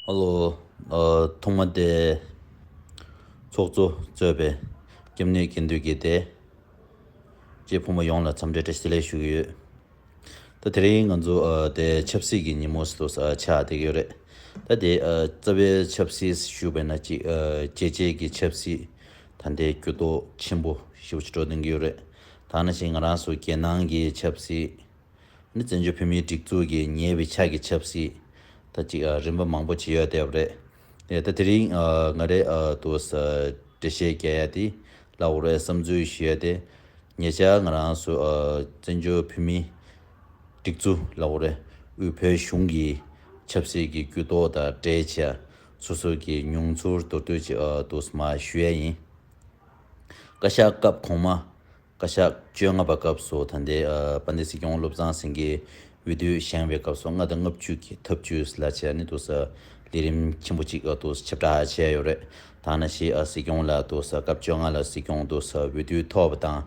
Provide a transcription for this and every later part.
ཨོ་ཐོག་མ་དེ་ཚོགས་གཙོ་གཙོས་པའི་སྐྱབས་གནས་དགེ་འདུན་དགེ་དེས་ཀྱི་ཕོ་མོ་ཡོངས་ལ་འཚམས་འདྲི་བཀྲ་ཤིས་ལན་ཞུ་གི་ཡོད། ད་དེ་རིང་ང་ཚོ་དེ་ཆབ་སྲིད་ཀྱི་ཉིན་མོ་སུ་ཆགས་བསྡད་ཀྱི་ཡོད་རེད། ད་དེ་རྩ་བའི་ཆབ་སྲིད་ཞུ་བས་ན་གཅིག་རྒྱལ་གཅེས་ཀྱི་ཆབ་སྲིད་ད་ལྟའི་གྱུར་ཏོག་ཆེན་པོ་ཞེ་བོ་ཆེ་སྒྲོག་འདོན་གྱི་ཡོད་རེད། ཐ་ན་ཞིག་ང་རང་སུ་རྒྱལ་ནང་གི་ཆབ་སྲིད། ནི་བཙན་བྱོལ་བོད་མིའི་སྒྲིག་འཛུགས་ཀྱི་ཉེ་བའི་ཆ་གི་ཆབ་སྲིད། ད་ཅིག་རིམ་པ་མང་པོ་བྱེད་ཡོད་བསྡད་པ་རེད། ཡ་ད་དེ་རིང་ང་རེ་ཏུ་འབྲེལ་བཤད་རྒྱ་ཡ་དེ་ལ་འོ་རེ་བསམ་ཚུལ་ཞིག་ཡོད་དེ། ཉེ་ཆར་ང་རང་སུ་བཙན་བྱོལ་བོད་མིའི་སྒྲིག་འཛུགས་ལ་འོ་རེ་དབུས་བོད་གཞུང་གི་ཆབ་སྲིད་ཀྱི་གུ་དོག་དང་འབྲེལ་བྱས་སོ་སོ་གི་མྱོང་ཚོར་མདོར་བསྡུས་ཅིག་ཏུ་མ་ཞུ་ཡ་ཡིན། བཀའ་ཤག་སྐབས་གོང་མ། བཀའ་ཤག་བཅོ་ལྔ་པ་སྐབས་སུ་ད་ལྟའི་དཔལ་ལྡན་སྲིད་སྐྱོང་བློ་བཟང་སེང་གེ་འོས་བསྡུ་བཞེངས་པའི་སྐབས་སུ་ལྔ་དང་ལྔ་བཅུ་གྱི་འཐབ་ཇུས་ལ་བྱས་ནས་ཏུ་ལས་རིམ་ཆེན་པོ་གཅིག་ཏུ་ཆེ་བསྒྲགས་བྱས་ཡོད་རེད། ད་ནི་ཕྱིས་སྲིད་སྐྱོང་ལ་ཏུ་སྐབས་བཅོ་ལྔ་ལ་སྲིད་སྐྱོང་ཏུ་འོས་བསྡུ་ཐོབ་པ་དང་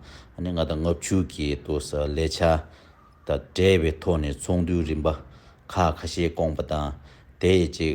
ནི་ལྔ་དང་ལྔ་བཅུ་གྱི་ཏུ་ལས་འཆར་དང་འབྲེལ་བའི་ཐོག་ནས་ཚོགས་འདུའི་རིམ་པ་ཁག་ཁ་ཤས་བསྐོངས་པ་དང་དེ་ཡི་གཅིག་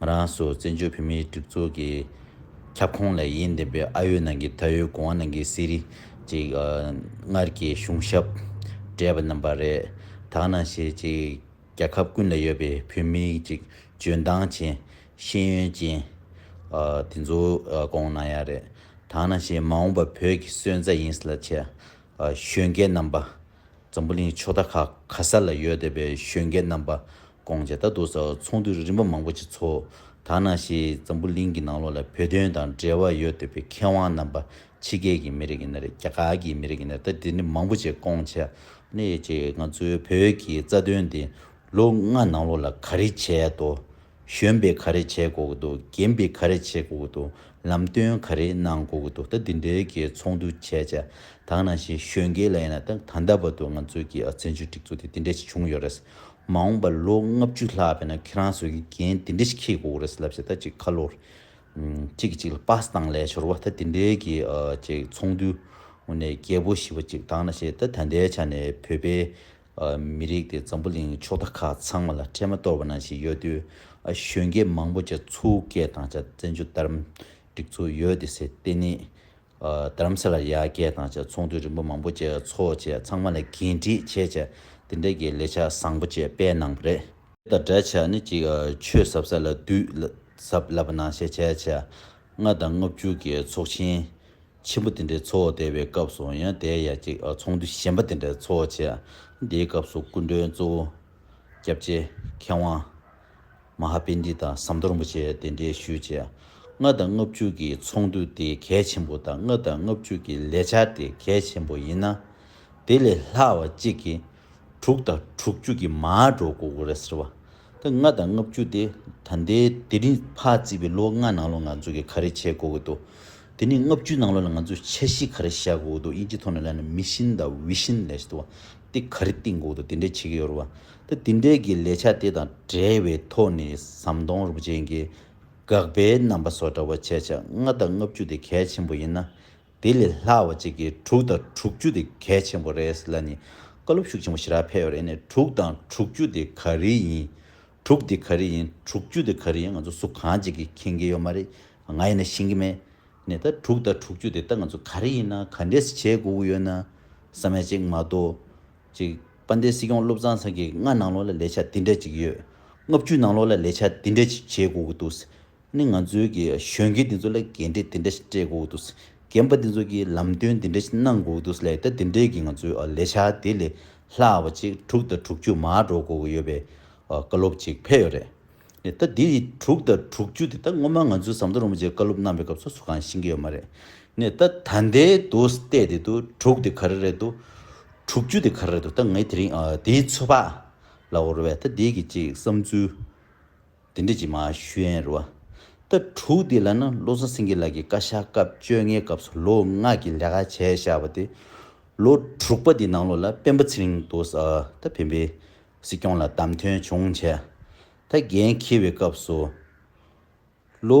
ང་རང་སོགས་བཙན་བྱོལ་བོད་མིའི་སྒྲིག་འཛུགས་ཀྱི་ཁྱབ་ཁོངས་ལས་ཡིན་བསྡད་པའི་ཨ་ཡོད་ནང་གི་ད་ཡོད་གོང་ནང་གི་གསེར་རི་ཅིག་སྔར་གྱི་གཞུང་ཞབས་བགྲེས་པ་རྣམས་པ་རེད་དག་ན་ཞེ་ཅིག་རྒྱ་ཁབ་ཀུན་ལ་ཡོད་པའི་བོད་མི་ཅིག་འཇོན་ཐང་ཅན་ཤེས་ཡོན་ཅན་དེ་ཚོ་གོང་ན་ཡག་རེད་དག་ན་ཞེ་མ་འོངས་པ་བོད་ཀྱི་སོན་རྩ་ཡིན་ལ་ཆེ་ཞོན་སྐད་རྣམས་པ། འཛམ་བུ་གླིང་ཕྱོགས་མཐའ་ཁག་ག་ས་ལ་ཡོད་བསྡད་པའི་གཞོན་སྐྱེས་རྣམ་པ་སྐོང་ཇེ་ད་འདུག་ས་འོག་ཚོགས་འདུ་རིམ་པ་མང་པོ་ཞིག་ཚོགས་ད་ནང་བཞིན་འཛམ་བུ་གླིང་གི་ནང་ལོགས་ལ་བོད་དོན་དང་འབྲེལ་བ་ཡོད་བསྡད་པའི་མཁས་དབང་རྣམ་པ་ཕྱི་རྒྱལ་གྱི་མི་རིགས་ཡིན་ན་རེད་རྒྱ་གར་གྱི་མི་རིགས་ཡིན་ན་རེད་ད་དེ་འདྲ་མང་པོ་ཞིག་སྐོང་ཆ་ནས་ཅིག་ང་ཚོའི་བོད་ཀྱི་རྩ་དོན་འདི་ལོ་ལྔ་ནང་ལོགས་ལ་ག་རེ་བྱས་དོ་གཞོན་པས་ག་རེ་བྱས་དགོས་ཀྱི་འདུག་རྒན་པས་ག་རེ་བྱེད་དགོས་ཀྱི་འདུག་ལམ་སྟོན་ག་རེ་གནང་དགོས་ཀྱི་འདུག་ད་འདི་འདྲའི་གི་ཚོགས་འདུ་བྱས་ཆ་དག་ནང་བཞིན་གཞོན་སྐྱེས་ལ་ཡིན་ན་ད་ད་ལྟ་བར་དུ་ང་ཚོའི་གི་བཙན་བྱོལ་སྒྲིག་འཛུགས་དེ་འདི་འདྲ་ཞིག་བྱུང་ཡོད་རེད། མ་འོངས་པ་ལོ་ལྔ་བཅུ་ལྷག་བས་ན་ཁྱེད་རང་ཚོས་གི་འགན་འདི་འདྲ་ཞིག་འཁྱེར་དགོས་ཀྱི་རེད་ལབ་ཆ་ད་ཅིག་ཁ་ལོ་གཅིག་གི་གཅིག་ལ་པཱ་སི་དང་ལས་ཤོར་བ་ད་འདི་འདྲའི་གི་ཚོགས་འདུ་ནས་རྒྱལ་པོ་ཞི་བ་ཅིག་དག་ན་བཞིན་ད་ད་ལྟའི་ཆ་ནས་བོད་པའི་མི་རིགས་དེ་འཛམ་བུ་གླིང་ཕྱོགས་མཐའ་ཁག་ཚང་མ་ལ་འཕྲལ་མ་གཏོར་བ་ནང་བཞིན་ཡོད་དུས། གཞོན་སྐྱེས་མང་པོ་ཆ་ཚུགས་སྐྱེས་དང་ཆ་བཙན་ཆུ་དར་འགྲིག་ཚུགས་ཡོད་དེ་སེར་བསྟན་ནི། དར་མ་སེར་ལ་ཡར་སྐྱེས་དང་ཆ་ཚོང་དུད་རིན་པོ་མང་པོ་བཅས་ཚོགས་བཅས་ཚང་མ་ལ་འགན་འཁྲི་ཆེ་ཆེ་དེ་འདྲ་གྱི་ལས་འཆར་བཟང་པོ་བཅས་སྤེལ་གནང་བ་རེད། དང་སྦྲགས་ཆ་ནི་གཅིག་ཆོས་ཟབ་ས་ལ་དུས་ཟབ་ལབ་པ་ནང་བཤད་ཆ་ཆ་ལྔ་དང་ལྔ་བཅུ་གྱི་ཚོགས་ཆེན། ཆེན་པོ་དེ་འདྲའི་ཚོགས་བསྡད་པའི་སྐབས་སུ་ཡང་དེའི་ཡ་གཅིག་ཚོགས་འདུ་གཞན་པ་དེ་འདྲའི་ཚོགས་བྱས། དེའི་སྐབས་སུ་སྐུ་མགྲོན་གཙོ་བོ། སྐྱབས་རྗེ་མཁས་དབང། མ་ཧཱ་པན་ཏི་ཏཱ་ཟམ་གདོང་རིན་པོ་ཆེ་དེ་འདྲའི་ཞུས་བྱས། ལྔ་དང་ལྔ་བཅུ་གྱི་ཚོགས་འདུ་དེ་གལ་ཆེན་པོ་དང་ལྔ་དང་ལྔ་བཅུ་གྱི་ལས་འཆར་དེ་གལ་ཆེན་པོ་ཡིན་ན། དེ་ལས་ལྷག་བ་གཅིག་གིས་དྲུག་དང་དྲུག་བཅུ་གྱི་མ་འགྲོ་དགོས་དགོས་རེད་ཟེར་བ། ད་ལྔ་དང་ལྔ་བཅུ་དེ་ད་ལྟའི་དེ་རིང་ཕ་བརྩིས་པའི་ལོ་ལྔ་ནང་ལོ་ང་ཚོ་གིས་ག་རེ་བྱེད་དགོས་ཀྱི་འདུག་དེ་ནས་ལྔ་བཅུའི་ནང་ལོ་ལ་ང་ཚོས་འཆར་གཞི་ག་རེ་བཞག་དགོས་ཀྱི་འདུག་དབྱིན་ཇིའི་ཐོག་ནས་ལན་ན Mission དང Vision ལས་བྱེད་དེ་ག་རེ་བཏིང་དགོས་ཀྱི་འདུག་དེ་འདྲས་བྱེད་ཀྱི་ཡོད་རེད་བ། ད་དེ་འདྲས་ཀྱི་ལས་བྱ་དེ་དང་བྲལ་བའི་ཐོག་ནས་ཟམ་གདོང་རིན་པོ་ཆེ་འགས་དགག་པའི་རྣམ་པ་སོགས་འདྲ་བ་བྱས་ཆ་ལྔ་དང་ལྔ་བཅུ་དེ་གལ་ཆེན་པོ་ཡིན་ན་དེ་ལས་སླ་བ་གཅིག་གིས་དྲུག་དང་དྲུག་ཅུ་དེ་གལ་ཆེན་པོ་རེད་ལ་ནི་བཀའ་སློབ་ཤུགས་ཆེན་པོ་ཞི་རགས་འཕེལ་ཡོད་རེད་ནས་དྲུག་དང་དྲུག་ཅུ་དེ་ག་རེ་ཡིན། དྲུག་དེ་ག་རེ་ཡིན་དྲུག་ཅུ་དེ་ག་རེ་ཡིན་ང་ཚོ་སུ་གང་ཅིག་གིས་མཁྱེན་གྱི་ཡོད་མ་རེད་ང་ཡིན་ན་ཤེས་ཀྱི་མེད། ནས་ད་དྲུག་དང་དྲུག་ཅུ་དེ་ད་ང་ཚོ་ག་རེ་ཡིན་ན་ག་འདྲས་སུ་བྱེད་དགོས་ཀྱི་ཡོད་ན་ས་མལ་ཅིག་མ་གཏོགས། ཅིག་དཔལ་ལྡན་སྲིད་སྐྱོང་བློ་བཟང་ཚང་གིས་ལྔ་ནང་ལོགས་ལ་ལས་འཆར་འདི་འདྲ་ཅིག་ཡོད། ལྔ་བཅུ་ནང་ལོགས་ལ་ལས་འཆར་འདི་འདྲ་ཅིག་བྱེད་དགོས་ཀྱི་འདུག་ཟེར། ནི་ང་ཚོའི་གཞོན་སྐྱེས་འདི་ཚོ་ལ་འགན་འཁྲི་འདི་འདྲ་ཞིག་སྤྲད་དགོས་འདུག་རྒན་པ་འདི་ཚོ་གིས་ལམ་སྟོན་འདི་འདྲ་ཞིག་གནང་དགོས་འདུག་ལས་ཀ་འདི་འདྲས་ཀྱིས་ང་ཚོའི་ལས་འཆར་དེ་ལས་སླ་བ་ཅིག་དྲུག་དང་དྲུག་ཅུ་མ་འགྲོ་དགོས་ཀྱི་ཡོད་པའི་བཀའ་སློབ་ཅིག་ཕེབས་ཡོད་རེད། ད་འདི་དྲུག་དང་དྲུག་ཅུ་དེ་ད་སྔོན་མ་ང་ཚོའི་ཟམ་གདོང་རིན་པོ་ཆེས་བཀའ་སློབ་གནང་པའི་སྐབས་སོ་སོ་གང་ཤེས་ཀྱི་ཡོད་མ་རེད། ད་ད་ལྟའི་དུ་བལྟས་དེ་དུ་དྲུག་དེ་ག་རེ་རེད་འདུག་དྲུག་ཅུ་དེ་ག་རེ་རེད་འདུག་ད་ངས་དེ་རིང་དེའི་ཚོད་དཔག་ལ་འོར་བས་ད་འདི་གི་ཅིག་བསམ་ཚུལ། དེ་འབྲེལ་གྱི་མ་ཞུན་རུ་ཨ། ཟླ་དྲུག་འདི་ལ་ནི་བློ་བཟང་སེང་གེ་ལགས་ཀྱིས་བཀའ་ཤག་སྐབས་བཅོ་ལྔའི་སྐབས་སུ་ལོ་ལྔ་གྱི་ལས་ཀ་བྱས་བཞག་པ་དེ། ལོ་དྲུག་པ་འདི་ནང་ལོགས་ལ་སྤེན་པ་ཚེ་རིང་དུ་ས་ད་བེན་པའི་སྲིད་སྐྱོང་ལ་བདམས་ཐོན་བྱུང་བྱས། ད་འགན་འཁྱེར་བའི་སྐབས་སུ། ལོ།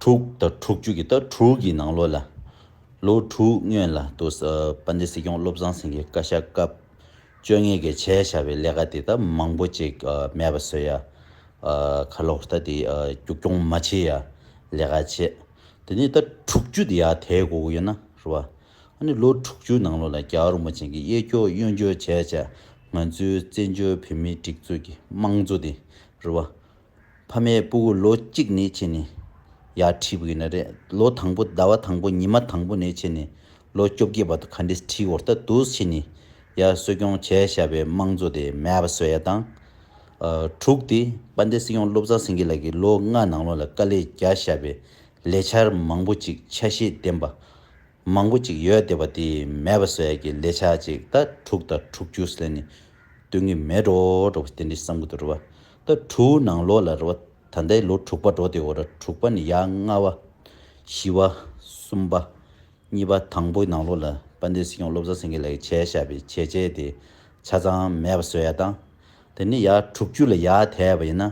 དྲུག་དང་དྲུག་ཅུ་གྱི་ཟླ་དྲུག་གི་ནང་ལོ་ལ། ལོ་དྲུག་སྔོན་ལ་དུ་དཔལ་ལྡན་སྲིད་སྐྱོང་བློ་བཟང་སེང་གེ་བཀའ་ཤག་སྐབས་བཅོ་ལྔའི་གི་བྱས་བཞག་པའི་ལས་ཀ་དེ་དག་མང་པོ་ཅིག་མེད་པ་བཟོས་ཡ། ཁ་ལོ་ལྟ་དེ་རྒྱུགས་སྐྱོང་མ་བྱེད་ཡ་ལས་ཀ་བྱེད། དེ་ནས་ཟླ་དྲུག་ཅུ་དེ་ཡ་དེའི་དགོ་དགོ་ཡོད་ན་རུ་བ། ཨ་ནི་ལོ་དྲུག་ཅུའི་ནང་ལོ་ལ་རྒྱ་གར་རིན་པོ་ཆེན་གྱི་གཡས་འཁྱོག་གཡོན་འཁྱོག་བྱས་བྱས་ང་ཚོའི་བཙན་བྱོལ་བོད་མིའི་སྒྲིག་འཛུགས་ཀྱི་དམངས་གཙོ་དེ་རུ་བ། ཕ་མའི་སྤུ་གུ་ལོ་གཅིག་ནས་བྱས་ནས་ཡར་ཁྲིད་དགོས་ནི་རེད། ལོ་དང་པོ་ཟླ་བ་དང་པོ་ཉི་མ་དང་པོ་ནས་བྱས་ནས་ལོ་བཅོ་བརྒྱད་བར་དུ་ག་འདྲས་ཁྲིད་བོར་ལྟ་དུས་ཕྱི་ནས་ཡར་གསོ་སྐྱོང་བྱས་བཞག་པའི་དམངས་གཙོ་དེ་མེད་པ་བཟོ་ཡ་དང། དྲུག་སྟེ་དཔལ་ལྡན་སྲིད་སྐྱོང་བློ་བཟང་སེང་གེ་ལགས་ཀྱིས་ལོ་ལྔ་ནང་ལོགས་ལ་དཀའ་ལས་རྒྱག་བཞག་པའི་ལས་འཆར་མང་པོ་ཅིག་ཆ་ཤས་ལྡན་པ་མང་པོ་ཅིག་ཡོད་དེ་བ་དེ་མེད་པ་ཟོས་ཀྱི་ལས་ཆག་ཅིག་ད་དྲུག་ད་དྲུག་ཅུ་ཟོས་ནས་སྡོད་ངེས་མེད་འགྲོ་འགྲོ་བ་དེ་འདྲའི་བསམ་གི་འདུག་རེ་བ་ད་དྲུག་ནང་ལོག་ལ་རེ་བ་ད་ལྟའི་ལོ་དྲུག་པ་འགྲོ་དེ་བ་ར་དྲུག་པ་ནས་ཡ་ལྔ་བ། བཞི་བ། གསུམ་པ། གཉིས་པ་དང་པོའི་ནང་ལོག་ལ་དཔལ་ལྡན་སྲིད་སྐྱོང་བློ་བཟང་སེང་གེ་ལགས་ཀྱི་བྱས་བཞག་པའི་བྱས་བྱས་དེ་ཆ་ཚང་མེད་པ་ཟོས་ཡ་དང། དེ་ནི་ཡར་དྲུག་ཅུ་ལ་ཡར་དེད་པ་ཡིན་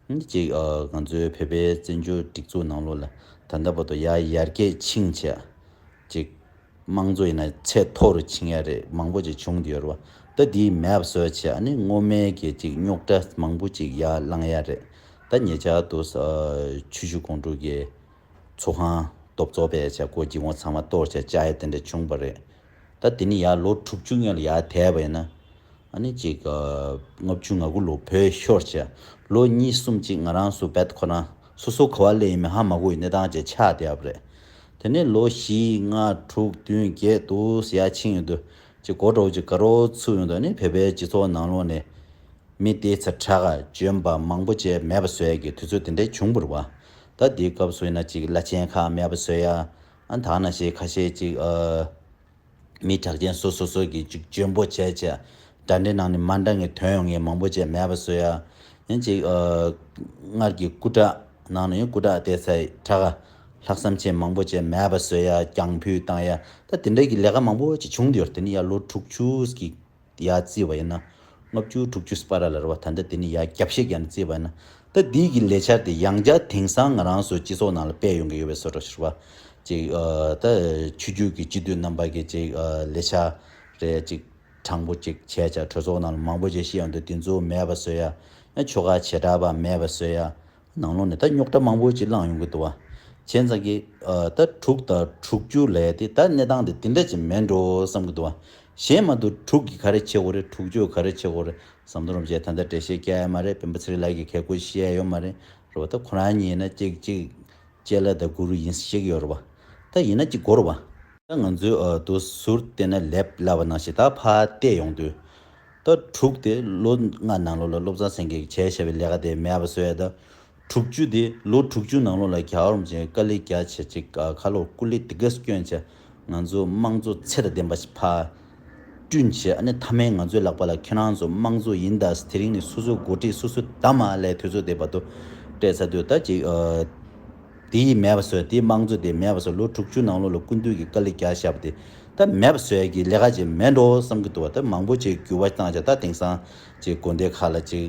ན། གཅིག་ང་ཚོའི་བོད་པའི་བཙན་བྱོལ་སྒྲིག་འཛུགས་ནང་ལོགས་ལ་ད་ལྟ་བར་དུ་ཡར་ཡར་རྒྱས་ཕྱིན་བྱས། གཅིག་དམངས་གཙོ་ཡིན་ན་ཚད་མཐོ་རུ་ཕྱིན་ཡ་རེད་མང་པོ་ཅིག་བྱུང་འདི་ཡོད་རེད་པ་ད་འདི་མེད་པ་བཟོས་བྱས་ཨ་ནི་སྔོ་སྨན་གྱི་གཅིག་རྙོག་དྲ་མང་པོ་ཅིག་ཡར་བསླངས་ཡ་རེད་ད་ཉེ་ཆར་དུ་ཆུ་ཤུར་ཀོང་ཀྲུག་གི་ཚོགས་ཁང་སྟོབས་ཚོགས་པས་བྱས་སྒོ་འགྱིག་བོང་ཚང་མ་གཏོར་བྱས་བཅའ་ཡ་དེ་འདྲ་བྱུང་བ་རེད། ད་དེ་ནི་ཡར་ལོ་དྲུག་ཅུ་སྔོན་ལ་ཡར་དེད་པ་ཡིན་ན། ཨ་ནི་ཅིག་ལྔ་བཅུ་ང་དགུ་ལོ་བོད་ཤོར་བྱས། ལོ་གཉིས་གསུམ་ཅིག་ང་རང་སུ་བེད་ཁོ་ན་སོ་སོ་གོ་བ་ལེ་ཡིན་མི་ཧ་མ་གོ་ཡི་གནས་སྟངས་བཅས་ཆགས་བསྡད་པ་རེད། དེ་ནས་ལོ་བཞི་ལྔ་དྲུག་བདུན་བརྒྱད་དུ་ས་ཡ་ཕྱིན་ཡོང་དུས་ཅིག་གོ་གྲོགས་ཅིག་དགའ་རོགས་ཚུགས་ཡོང་དུས་ཨ་ནི་བོད་པའི་སྤྱི་ཚོགས་ནང་ལོག་ནས་མི་བདེ་ཚ་དྲག་བཅོམ་པ་མང་པོ་བཅས་མེད་པ་བཟོས་ཀྱི་དུས་ཚོད་དེ་འདྲ་བྱུང་བར་བ། ད་འདིའི་སྐབས་སུ་ཡིན་ན་ཅིག་བླ་ཆེན་ཁག་མེད་པ་བཟོས་ཡ་ཨ་ཐང་ན་ཤེས་ཁ་ཤས་ཅིག། མི་གྲགས་ཅན་སོ་སོ་སོ་གིས་ཅིག་འཇོན་པོ་བྱས་བྱས། དགྲ་འདྲེ་ནང་ནས་མ་འདྲ་ངས་དོན་ཡོང་ངེས་མང་པོ་བྱས་མེད་པ་བཟོས་ཡ། ཡིན་ཅིག། སྔར་གྱི་སྐུ་དྲག་ནང་ནས་སྐུ་དྲག་སྟེ་སའི་དྲག་ག། ལྷག་བསམ་ཆེན་མང་པོ་བྱས་མེད་པ་བཟོས་ཡ་རྒྱང་ཕུད་བཏང་ཡ། ད་དེ་འདྲ་གི་ལས་ཀ་མང་པོ་ཅིག་བྱུང་འདི་ཡོར་དེ་ནི་ཡ་ལོ་དྲུག་ཅུ་གི། ཡ་བརྩིས་བ་ཡིན་ན། ལྔ་བཅུ་དྲུག་ཅུ་སྤ་ར་ལ་རུ་བ་ད་ལྟ་དེ་ནི་ཡ་རྒྱབ་ཤེས་ཀྱང་བརྩིས་བ་ཡིན་ན། ད་དེའི་གི་ལས་འཆར་དེ་ཡང་བསྐྱར་དེང་སང་ང་རང་ཚོའི་སྤྱི་ཚོགས་ནང་ལ་སྤེལ་ཡོང་གི་ཡོད་པའི་སོ་ཏྲོ་ཞེས་བ། ཅིག་ད་ཆུ་རྒྱུད་ཀྱི་སྤྱི་འཐུས་རྣམ་པ་གི་ཅིག་ལས་འཆར་རེ་ཅིག་དྲང་པོ་ཅིག་བྱས་ཅག་གྲོས་ཚོགས་ནང་ལ་མང་པོ་ཅིག་ཤི་ཡོང་དུས་དེ་ཚོ་མེད་པ་བཟོས་ཡ། ཡང་ཆོལ་ཁ་བྱེ་བྲག་པ་མེད་པ་བཟོས་ཡ། ནང་ལོགས་ནས་ད་རྙོག་གྲ་མང་པོ་ཅིག་བསླངས་ཡོང་གི་འདུག་བ། བྱས་ཙང་གི། ད་དྲུག་དང་དྲུག་ཅུ་ལས་དེ་ད་གནས་སྟངས་དེ་དེ་འདྲ་ཅིག་མེད་འགྲོ་བསམ་གི་འདུག་བ། གཞན་མ་དུ་དྲུག་གི་ག་རེ་བྱེད་དགོས་རེད་དྲུག་ཅུའི་ག་རེ་བྱེད་དགོས་རེད་བསམ་དོན་རུང་བྱས་ད་ལྟ་འགྲེལ་བཤད་སྐྱལ་ཡ་མ་རེད་བེམ་པོ་ཚེ་རིང་ལགས་ཀྱིས་གལ་གུ་བཤད་ཡོད་མ་རེད་རེད་བ། ད་ཁོ་རང་ཉིད་ན་ཅིག་ཅིག་ཅེ་ལ་ད་གུ་རུ་ཡིན་ས་ཞིག་ཡོད་རེད་བ། ད་ཡིན་ན་ཅིག་གོ་རེད་བ། ད་ང་ཚོའི་འདུ་ཟུར་དེ་ན་ལེབ་ལ་བ་ནང་བཞིན་ད་ཕ་བལྟས་ཡོང་དུས། ལྟར་དྲུག་སྟེ་ལོ་ལྔ་ནང་ལོ་ལ་སློབ་ཚན་སེང་གེ་གྱེར་བྱ་བའི་ལས་ཀ་དེ་མེད་པར་བཟོས་ཡོད། དྲུག་ཅུ་སྟེ་ལོ་དྲུག་ཅུ་ནང་ལོ་ལ་གྱ་བར་མཇལ་དཀའ་ལས་རྒྱ་ཆེ་གཅིག་ཁ་ལོ་སྐུ་ལས་དེ་གས་སྐྱོན་ཆེ། ང་ཚོའི་དམངས་གཙོ་ཚད་དང་ལྡན་པ་ཞིག་ཕར། སྐྲུན་བྱས་ཨ་ནི་མཐའ་མའི་ང་ཚོའི་ལག་པ་ལ་ཁྱེད་རང་ཚོ་དམངས་གཙོ་ཡིན་ད་ས་དེ་རིང་ནས་སོ་སོའི་འགོ་ཁྲིད་སོ་སོའི་ད་མ་ལས་དུས་ཚོད་དེ་བར་དུ་སྤྲད་ཚར་དུས་ད་ཅིག། དེ་ཡིས་མེད་པ་བཟོས་དེའི་དམངས་གཙོ་དེ་མེད་པ་བཟོས་ལོ་དྲུག་ཅུ་ནང་ལོགས་ལ་སྐུ་མདུན་གྱིས་དཀའ་ལས་རྒྱག་བཞག་པ་དེ་ད་མེད་པ་བཟོས་ཀྱི་ལས་ཀ་ཅིག་མེད་འགྲོ་བསམ་གྱི་འདུག་བ་ད་མང་པོ་ཅིག་འགྱུར་བ་བཏང་བྱ་ད་དེང་སང་ཅིག་དགོན་སྡེ་ཁག་ལ་ཅིག་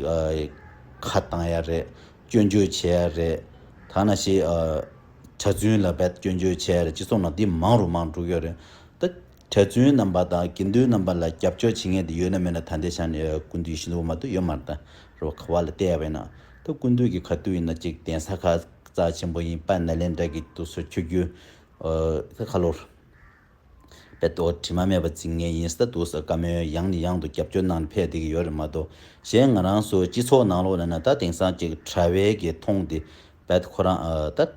ཁ་བཏང་ཡ་རེད་སྐྱོན་བརྗོད་བྱེད་ཡ་རེད་ཐ་ན་ཞིག་གྲྭ་བཙུན་ལ་བས་སྐྱོན་བརྗོད་བྱེད་ཡ་རེད་ཅིག་སོང་ན་དེ་མང་རུ་མང་འགྲོ་གི་ཡོད་རེད་ད། གྲྭ་བཙུན་རྣམ་པ་དང་དགེ་འདུན་རྣམ་པ་ལ་རྒྱབ་སྐྱོར་བྱེད་མཁན་དེ་ཡོད་ན་མེད་ན་ད་ལྟའི་ཆ་ནས་ཀུན་འདུས་ཤིན་ཏུ་འོ་མ་དུ་ཡོད་མ་རེད་རོ་ཁ་བ་ལ་བལྟས་པས་ན་ད་ཀུན་འདུས་ཀྱི་ཁ་ཏུ་ཡིན་ན་གཅིག་གདན་ས་ཁ་རྩ་ཆེན་པོ་ཡིན་པ་ན་ལེན་དྲ་གི་དུ་སོ་འཁྱོལ་རྒྱུ་ཨ་ཁ་ལོར་བས་དོ་དྲི་མ་མེད་པ་འཛིན་ངེས་ཡིན་ས་འདུག་ས་དཀའ་མོལ་ཡང་ནས་ཡང་དུ་རྒྱབ་སྐྱོར་གནང་ནས་ཕེབས་བསྡད་ཀྱི་ཡོད་རེད་མ་གཏོགས་གཞན་ང་རང་ཚོ་སྤྱི་ཚོགས་ནང་ལོག་ན་ན་ད་དེང་སང་གཅིག་དྲ་བའི་གི་མཐོང་དེ་བས་ཁོ་རང་ད།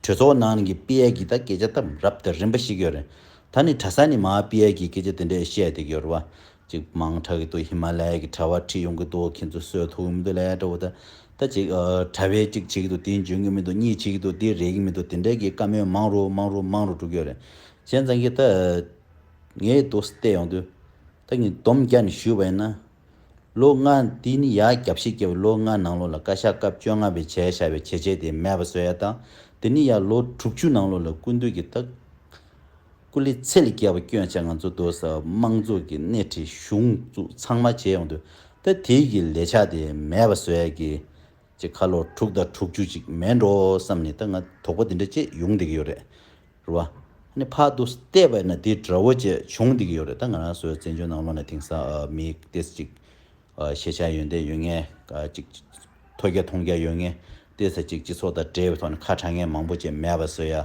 གྲོས་ཚོགས་ནང་གི་དཔེ་ཡག་གི་དང་སྐད་ཆ་དམ་རབ་དང་རིམ་པ་ཞིག་ཡོད་རེད། ད་ནི་གྲྭ་ས་ནས་མ་དཔེ་ཡག་གི་སྐད་ཆ་དེ་འདྲས་བཤད་དེ་གྱོར་བ། ཅིག་མང་དྲག་གི་འདུག་ཧི་མ་ལའི་གི་གྲྭ་བ་ཁྲིད་ཡོང་གི་འདུག་ཁྱེད་ཚོ་སོས་ཐུག་གི་མི་འདུག་ལས་གྲྭ་བོ་ད་ད་ཅིག་གྲྭ་བས་ཅིག་བྱེད་གི་འདུག་དེ་འཇོན་གི་མི་འདུག་གཉིས་བྱེད་གི་འདུག་དེ་རེད་གི་མི་འདུག་དེ་འདྲས་གི་བཀའ་མོལ་མང་རུ་མང་རུ་མང་རུ་འགྲོ་གྱོར་རེད། གཞན་ཙང་གི་ད་ངས་དུ་བལྟས་ཡོང་དུས། ད་ངས་སྡོམ་རྒྱག་ནས་ཞུས་པ་ཡིན་ན། ལོ་ལྔ། དེ་ནི་ཡ་རྒྱབ་བཞི་བརྒྱད་པའི་ལོ་ལྔའི་ནང་ལོ་ལ་བཀའ་ཤག་སྐབས་བཅོ་ལྔ་པའི་བྱས་བྱ་བའི་བྱས་རྗེས་དེ་མེད་པ་བཟོས་ཡ་དང། དེ་ནི་ཡ་ལོ་དྲུག་ཅུའི་ནང་ལོ་ལ་སྐུ་མདུན་གྱི་སྟག་སྐུ་ལས་ཚད་ལས་བརྒལ་བ་སྐྱོན་ཆ་ང་ཚོ་སྡོད་སའི་དམངས་གཙོ་གི་སྣེ་ཁྲིད་གཞུང་བཙུགས་ཚང་མ་བྱས་ཡོང་དུས་ད་དེ་གི་ལས་བྱ་དེ་མེད་པ་བཟོས་ཡ་གི། ཅེས་ཁ་ལོ་དྲུག་དང་དྲུག་ཅུ་ཅིག་མེད་འགྲོ་བསམ་ནས་ད་ང་དོགས་པ་འདི་འདྲ་སྐྱེས་ཡོང་བསྡད་ཀྱི་ཡོད་རེད། རེད་བ། ནི་ཕག་ཏུ་བལྟས་པས་ན་དེ་འདྲ་བོ་བཅས་བྱུང་བསྡད་ཀྱི་ཡོད་རེད་ད་ང་རང་ཚོའི་བཙན་བྱོལ་ནང་ལོ་ན་དེང་སང་མི་དེ་ཅིག་ཤེས་བྱ་ཡོན་ཏན་ཡོད་ངེས་ཅིག་ཐོས་རྒྱ་མཐོང་རྒྱ་ཡོད་ངེས་དེ་ཚ་ཅིག་སྤྱི་ཚོགས་དང་འབྲེལ་བའི་ཐོག་ནས་ཁ་གྲག་ངེས་མང་པོ་བཅས་མེད་པ་བཟོས་ཡ་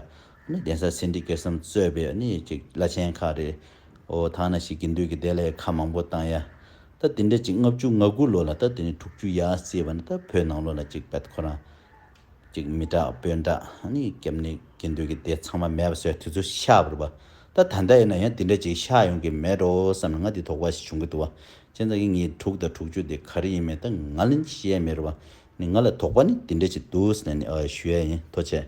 ནི་གདན་ས་སེང་ཁྲི་ཀེར་སམ་གཙོས་པའི་ནི་ཅིག་བླ་ཆེན་ཁག་རེད་འོ་ཐང་ན་ཞིག་དགེ་འདུན་གྱི་སྡེ་ལས་ཁ་མང་པོ་བཏང་ཡ་ད་དེ་འདྲ་ཅིག་ལྔ་བཅུ་ང་དགུ་ལོ་ལ་ད་དེ་ནས་དྲུག་ཅུ་ཡ་བརྩིས་པ་ན་ད་བོད་ནང་ལོ་ན་ཅིག་བལྟ་ཁོ་རང་ཅིག་མི་དྲག་དཔོན་དྲག་ནི་སྐྱབས་གནས་དགེ་འདུན་གྱི་སྡེ་ཚང་མ་མེད་པ་སོས་དུས་ཚོད་ཤག་བུར་བ་ད་ད་ལྟ་ཡིན་ན་ཡང་དེ་འདྲ་ཅིག་ཤག་ཡོང་གི་མེད་འགྲོ་བསམ་ལ་ང་དེ་དོགས་པ་ཞིག་བྱུང་གི་འདུག་བ་ཅན་ཚང་གི་ངའི་དྲུག་དང་དྲུག་ཅུ་དེ་ག་རེ་ཡིན་མིན་ད་ང་ལ་ཤེས་མེད་རུང་བ་ནི་ང་ལ་དོགས་པ་ནི་དེ་འདྲ་ཞིག་འདུག་ཟེར་ནས་ཞུ་ཡ་ཡིན་ཐོ་ཆད།